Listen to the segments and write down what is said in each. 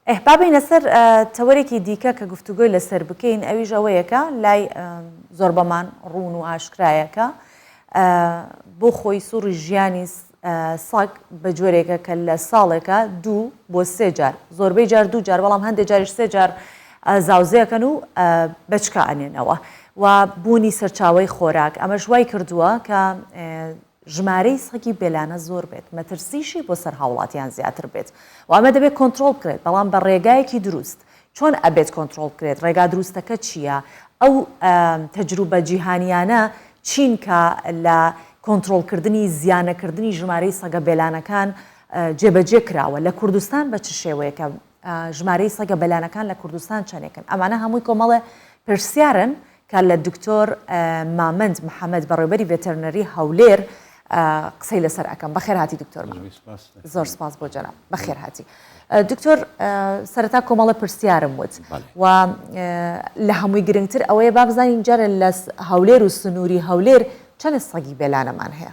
ئه با بێینە سەر تەوەرێکی دیکە کە گفتوگۆی لەسەر بکەین ئەویش ئەوەیە کە لای زۆربەمان ڕوون و ئاشکرایە کە بۆ خۆی سوڕی ژیانی سەگ بە جۆرێکە کە لە ساڵێکە دوو بۆ سێ جار زۆربەی جار دوو جار بەڵام هەندێک جاریش سێ جار زاوزێکەن و بەچکە ئەنێنەوە و بوونی سەرچاوی خۆراک ئەمەش وای کردووە کە ژمارەی سەگی بێلانە زۆر بێت، مەترسیشی بۆ سەر هاوڵاتیان زیاتر بێت و ئەمە دەبێت کۆنترۆڵ بکرێت، بەڵام بە ڕێگایەکی دروست، چۆن ئەبێت کۆنترۆڵ بکرێت، ڕێگا دروستەکە چییە، ئەو تەجروبە جیهانییانە چین کە لە کۆنترۆڵکردنی زیانەکردنی ژمارەی سەگە بێلانەکان جێبەجێ کراوە، لە کوردستان بە چ شێوەیەکە ژمارەی سەگە بەلانەکان لە کوردستان چەنێکن؟ ئەمانە هەمووی کۆمەڵێ پرسیارن کە لە دکتۆر مامەند محەمەد بەڕێوبەری ڤێتەرنەری هەولێر قسەی لەسەر ئەکەم بەخێر هاتی دکتۆر زۆر سپاس بۆ جەناب بەخێر هاتی دکتۆر سەرەتا کۆمەڵە پرسیارم وت و لە هەمووی گرنگتر ئەوەیە بابزانین جارە لە هەولێر و سنووری هەولێر چەنە سەگی بێلانەمان هەیە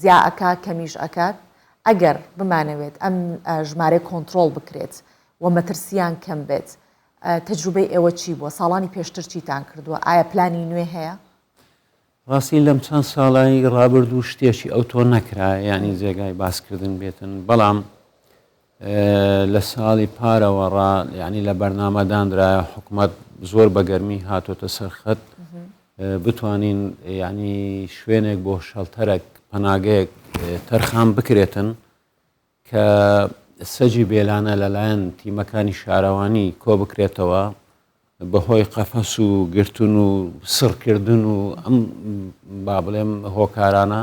زیا ئەکا کەمیش ئەکات ئەگەر بمانەوێت ئەم ژمارەی کۆنترۆڵ بکرێت و مەترسیان کەم بێت تەجروبەی ئێوە چی بووە ساڵانی پێشتر چیتان کردووە ئایا پلانی نوێ هەیە؟ ڕاستی لەم چەند ساڵی ڕابردوو شتێکی ئەوتۆ نەکرا ینی جێگای باسکردن بێتن بەڵام لە ساڵی پارەوە ڕا یعنی لە بەرنامە دانرایە حکومەت زۆر بەگەرمی هاتۆتە سەرخەت بتوانین یعنی شوێنێک بۆ شەڵتەرەک پەناگەیەک تەرخان بکرێتن کە سەجی بێلانە لەلایەن تیمەکانی شارەوانی کۆ بکرێتەوە بەهۆی قەفەس و گرتن و سڕکردن و ئەم با بڵێم هۆکارانە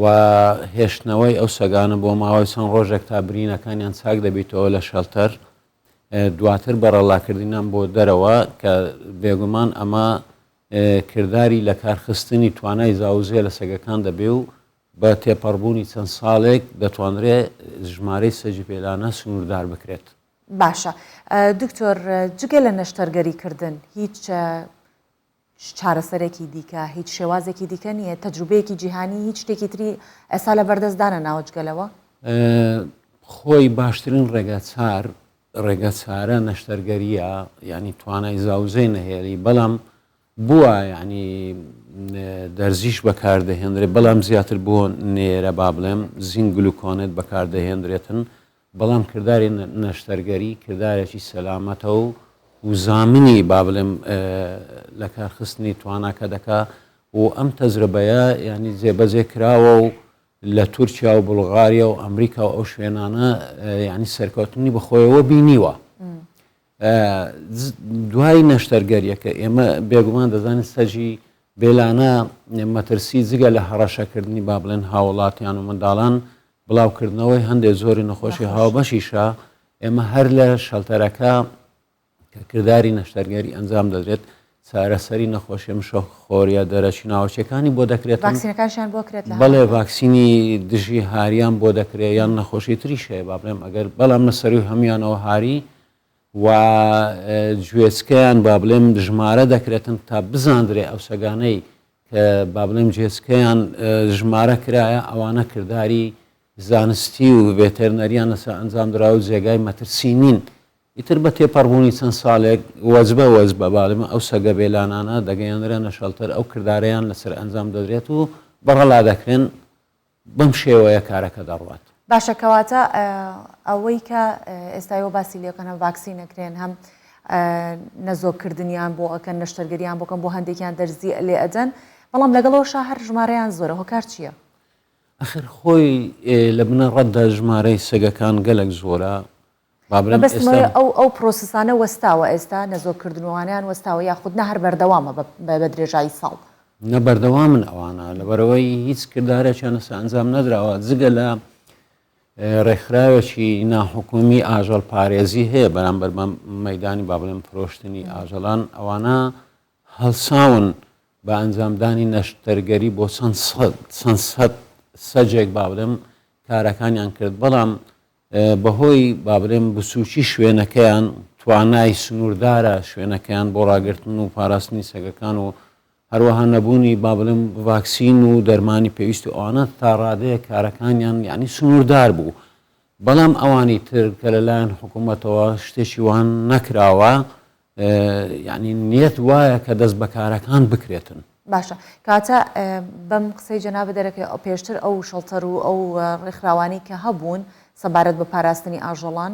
و هێشتنەوەی ئەو سەگانە بۆ ماوەی چەند ڕۆژێک تا برینەکانیان چاک دەبیتەوە لە شەلتەر دواتر بەڕەڵاکردنیان بۆ دەرەوە کە بێگومان ئەمە کردداری لە کارخستنی توانای زاوزێ لە سەگەکان دەبێ و بە تێپەڕبوونی چەند ساڵێک دەتوانرێ ژمارەی سەجی پێلانە سنووردار بکرێت. باشە دکتۆر جگە لە نەشتەرگەریکردن هیچ چارەسەرێکی دیکە، هیچ شێوازێکی دیکە نییە، تەجروبەیەکی جیهانی هیچ شتێکی تری ئێستا لەبەردەست دانەناوە جگە لەوە؟ خۆی باشترین ڕێگا چار ڕێگە چارە نەشتەرگەریە ینی توانای زاوزێ نەهێڵی بەڵام بووە ینی دەرزیش بەکاردەهێنرێت بەڵام زیاتر بۆ نێرە با بڵێم زینگلوکۆنێت بەکاردەهێنرێتن بەڵام کرداری نەشتەرگەری کردارێکی سەلامەتە و و زامنی با بڵێم لەکارخستنی تواناکە دەکا و ئەم تەجربەیە ینی جێبەجێ کراوە و لە تورکیا و بلغاریا و ئەمریکا و ئەو شوێنانە ینی سەرکەوتنی بەخۆیەوە بینیوە دوای نەشتەرگەریەکە ئێمە بێگومان دەزانین سەجی بێلانە مەترسی جگە لە هەڕەشەکردنی با بڵێن هاوڵاتیان و منداڵان بڵاوکردنەوەی هەندێک زۆری نەخۆشی هاوبەشیشە ئێمە هەر لە شەلتەرەکە کردداری نەشتەرگەری ئەنجام دەدرێت چارەسەری نەخۆشیە مشە خۆریە دەرەچی ناوەچەکانی بۆ دەکرێت ڤاکسینەکانشان بۆ کرێت لە بەڵێ ڤاکسینی دژی هاریان بۆ دەکرێت یان نەخۆشی تری شەیە با بڵێم ئەگەر بەڵام لە سەروی هەمویانەوە هاری و گوێچکەیان با بڵێم ژمارە دەکرێتن تا بزاندرێ ئەو سەگانەی کە با بڵێم جێچکەیان ژمارە کرایە ئەوانە کردداری زانستی و ڤێتەرنەریان لەسەر ئەنجام درا و جێگای مەترسی نین ئیتر بە تێپەڕبوونی چەند ساڵێک وەجبە وەجبە بالمە ئەو سەگە بێلانانە دەگەیەنرێنە شەڵتەر ئەو کردارەیان لەسەر ئەنجام دەدرێت و بەغەڵا دەکرێن بەم شێوەیە کارەکە دەڕوات. باشە کەواتە ئەوەی کە ئێستا ئێوە باسی لێ ئەکەن هەم ڤاکسین ئەکرێن هەم نەزۆک کردنیان بۆ ئەکەن نەشتەرگەریان بۆ کەن بۆ هەندێکیان دەرزی لێ ئەدەن بەڵام لەگەڵەوە شا هەر ژمارەیان زۆرە هۆکار چییە؟ ئەخر خۆی لە بنەڕەتدا ژمارەی سەگەکان گەلک زۆرە مەبەستم ئەوەیە ئەو ئەو پرۆسسانە وەستاوە ئێستا نەزۆک کردنوانیان وەستاوە یاخود نە هەر بەردەوامە بە درێژایی ساڵ؟ نە بەردەوامن ئەوانە لەبەرەوەی هیچ کردارێکیان لەسەر ئەنجام نەدراوە جگە لە ڕێکخراوێکی ناحکومی ئاژەڵ پارێزی هەیە بەرامبەر بەم مەدانی با بڵێن فرۆشتنی ئاژەڵان ئەوانە هەڵساون بە ئەنجامدانی نەشتەرگەری بۆ چەند سەد سەجێک با بڵێم کارەکانیان کرد بەڵام بەهۆی با بڵێم بچووکی شوێنەکەیان توانای سنووردارە شوێنەکەیان بۆ ڕاگرتن و پاراستنی سەگەکان و هەروەها نەبوونی با بڵێم ڤاکسین و دەرمانی پێویست و ئەوانە تا ڕادەیە کارەکانیان یعنی سنووردار بوو بەڵام ئەوانی تر کە لەلایەن حکوومەتەوە شتێکی وان نەکراوە یانی نیەت وایە کە دەست بەکارەکان بکرێتن. باشە کاتە بەم قسەی جەنابە دەرەکەی ئەو پێشتر ئەو شەڵتەر و ئەو ڕێکخراوانی کە هەبوون سەبارەت بە پاراستنی ئاژەڵان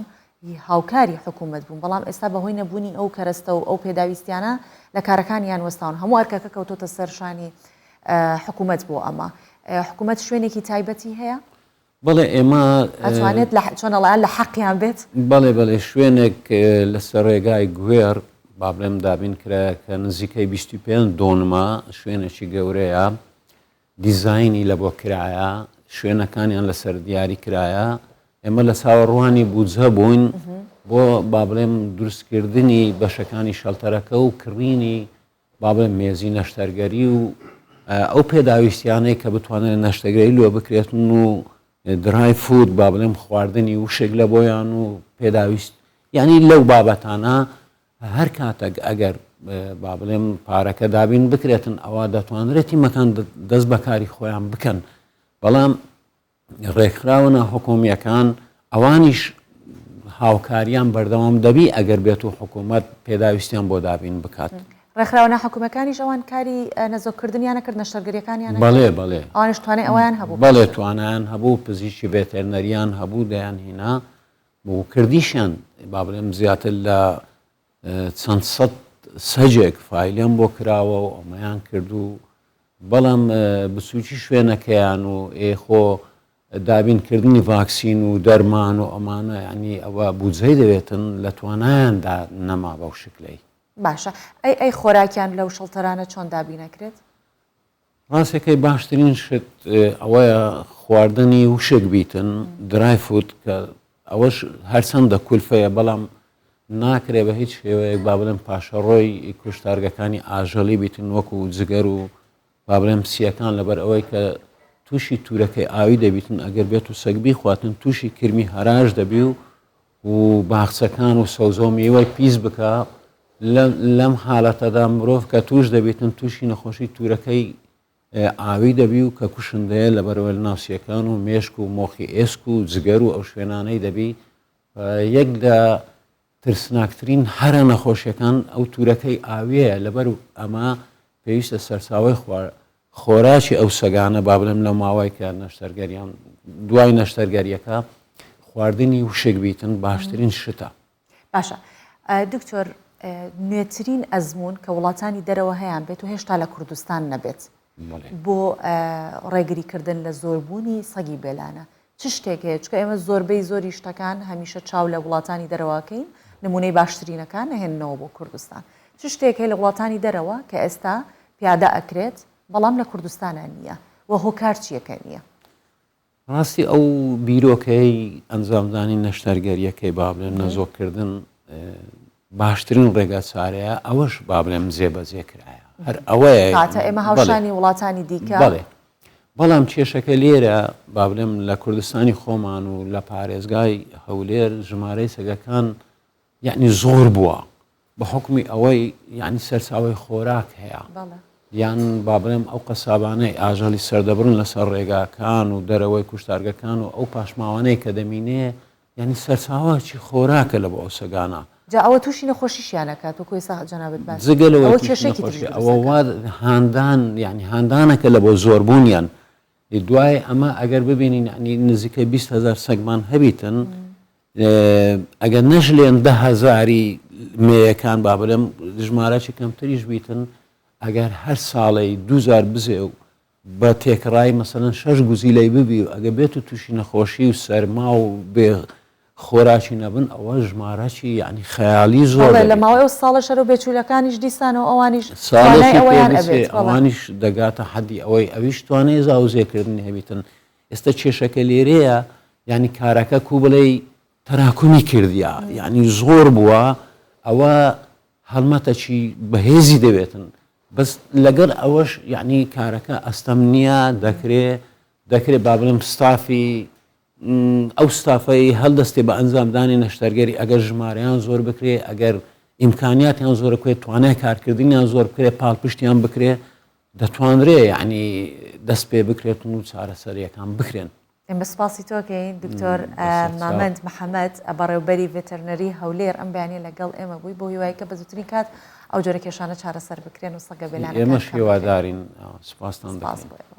هاوکاری حکوومەت بوون بەڵام ئێستا بەهۆی نەبوونی ئەو کەرەستە و ئەو پێداویستیانە لە کارەکانیان وەستاون هەموو ئەرکەکە کەوتۆتە سەرشانی حکوومەت بۆ ئەمە حکوومەت شوێنێکی تایبەتی هەیە بەڵێ ئێمە. ئەتوانێت لە چۆن ئەڵێ لە حەقیان بێت؟ بەڵێ بەڵێ شوێنێک لەسەر ڕێگای گوێڕ با بڵێم دابین کرایە کە نزیکەی 25 دۆنمە شوێنێکی گەورەیە دیزایانی لە بۆ کرایە شوێنەکانیان لەسەر دیاری کرایە ئێمە لە چاوەڕوانی بودجە بووین بۆ با بڵێم دروستکردنی بەشەکانی شەلتەرەکە و کڕینی با بڵێم مێزی نەشتەرگەری و ئەو پێداویستیانەی کە بتوانێت نەشتەگەری لۆ بکرێتن و درای فود با بڵێم خواردنی وشێک لە بۆیان و پێداویست یعنی لەو بابەتانە هەر کاتەک ئەگەر با بڵێم پارەکە دابین بکرێتن ئەوە دەتوانرێتی مەکان دەست بەکاری خۆیان بکەن بەڵام ڕێکخراوە ناحکومییەکان ئەوانیش هاوکاریان بەردەوام دەبی ئەگەر بێت و حکوومەت پێداویستیان بۆ دابین بکات. ڕێکخراوە ناحکومەکانیش ئەوان کاری نەزۆکردنیانە کرد نەشتەرگەریەکانیان بەڵێ بەڵێ ئەوانش توانێت ئەویان هەبوو بەڵێ توانیان هەبوو پزیشی بێتێرنەریان هەبوو دەیان هینا بۆ کردیشیان با بڵێم زیاتر لە چەند سەد سەجێک فایلێم بۆ کراوە و ئەمەیان کرد و بەڵام بچوکی شوێنەکەیان و ئێ خۆ دابینکردنی ڤاکسین و دەرمان و ئەمانە ینی ئەوە بودجەی دەوێتن لە توانایاندا نەما بەو شکلەی باشە ئەی ئەی خۆراکیان لەو شەڵتەرانە چۆن دابینەکرێت؟ ڕاستەکەی باشترین شت ئەوەیە خواردنی وشک بیتن درای فوت کە ئەوەش هەرچەندە کولفەیە بەڵام ناکرێ بە هیچ شێوەیەک با بڵێن پاشەڕۆی کوشتارگەکانی ئاژەڵی بیتن وەکو و جگەر و با بڵێم سیەکان لەبەر ئەوەی کە تووشی تورەکەی ئاوی دەبیتن ئەگەر بێت و سەگبی خواتن تووشی کرمی هەراش دەبی و و باخچەکان و سەوزە و میوەی پیس بکا لەم حالەتەدا مرۆڤ کە توش دەبیتن تووشی نەخۆشی تورەکەی ئاوی دەبی و کە کوشندەیە لە بەرەوەل ناسیەکان و مێشک و مۆخی ئێسک و جگەر و ئەو شوێنانەی دەبی یەک لە ترسناکترین هەرە نەخۆشیەکان ئەو تورەکەی ئاویەیە لەبەر ئەمە پێویستە سەرچاوی خوارد خۆراکی ئەو سەگانە با بڵێم لە ماوەی کە نەشتەرگەریان دوای نەشتەرگەریەکە خواردنی وشک بیتن باشترین شتە باشە دکتۆر نوێترین ئەزمون کە وڵاتانی دەرەوە هەیان بێت و هێشتا لە کوردستان نەبێت بۆ ڕێگریکردن لە زۆربوونی سەگی بێلانە چ شتێک هەیە؟ چونکە ئێمە زۆربەی زۆری شتەکان هەمیشە چاو لە وڵاتانی دەرەوەکەین، نمونەی باشترینەکان نەهێننەوە بۆ کوردستان. چ شتێک هەیە لە وڵاتانی دەرەوە کە ئێستا پیادە ئەکرێت بەڵام لە کوردستانا نییە و هۆکار چییە کە نییە؟ ڕاستی ئەو بیرۆکەیەی ئەنجامدانی نەشتەرگەریەکەی با بڵێن نەزۆککردن باشترین ڕێگا چارەیە ئەوەش با بڵێم جێبەجێ کرایە هەر ئەوەیە ئێمە هاوشانی وڵاتانی دیکە بڵێ بەڵام کێشەکە لێرە با بڵێم لە کوردستانی خۆمان و لە پارێزگای هەولێر ژمارەی سەگەکان یعنی زۆر بووە بە حکمی ئەوەی یعنی سەرچاوی خۆراک هەیە یان با بڵێم ئەو قەسابانەی ئاژەڵی سەردەبرن لەسەر ڕێگاکان و دەرەوەی کوشتارگەکان و ئەو پاشماوانەی کە دەمینێ یانی سەرچاوەکی خۆراکە لە بۆ ئەو سەگانە. جا ئەوە توشی نەخۆشیشیان ئەکات وەکو ئێستا جەنابت باس کرد جگە لەوەی ئەوە توشی کێشەیەکی تریش نەخۆشی دروست ئەوە وا ئەکات. هاندان یانی هاندانەکە لە بۆ زۆر بوونیان ی دوای ئەمە ئەگەر ببینین یانی نزیکەی بیست هەزار سەگمان هەبیتن ئەگەر نەژلێن دە هەزاری مێیەکان با بلێم ژمارەکی کەمتریش بیتن ئەگەر هەر ساڵێی دوو جار بزێو بە تێکڕای مەسەلەن شەش گوزیلەی ببی و ئەگە بێت و تووشی نەخۆشی و سەرما و بێ خۆراکی نەبن ئەوە ژمارەکی یعنی خەیالی زۆر بەڵێ لە ماوەی ئەو ساڵە شەرە و بێچوولەکانیش دیسانەوە ئەوانیش توانای ساڵێکی پێ ئەوەیان بچێ ئەبێت بەڵێ ئەوانیش دەگاتە حەدی ئەوەی ئەویش توانای زاوزێکردنی هەبیتن ئێستا کێشەکە لێرەیە یعنی کارەکە کوو بڵێی تەراکمی کردیە یعنی زۆر بووە ئەوە هەڵمەتەکی بەهێزی دەوێتن بەس لەگەل ئەوەش یەعنی کارەکە ئەستەم نیە دەکرێ دەکرێ با بڵێم ستافی ئەو ستافەی هەلدەستێ بە ئەنجام دانی نەشتەرگەری ئەگەر ژمارەیان زۆر بکرێ ئەگەر ئیمکانیاتیان زۆرە کوێت توانای کارکردنیان زۆر بکرێ پاڵپشتیان بکرێ دەتوانرێ یعنی دەست پێ بکرێت و چارەسەریەکان بکرێن ئێمە سپاسی تۆ کەین دکتۆر مامەند محەمەد بەڕێوبەری ڤێتەرنەری هەولێر ئەم بەیانیە لەگەڵ ئێمە بووی بۆ هیوای کە بەزوترین کات ئەو جۆرە کێشانە چارەسەر بکرێن و سەگە بێلانەکان کەم بکرێن. ئێمەش هیوادارین سپاستان دەکەین. سپاس بۆ ئێوە.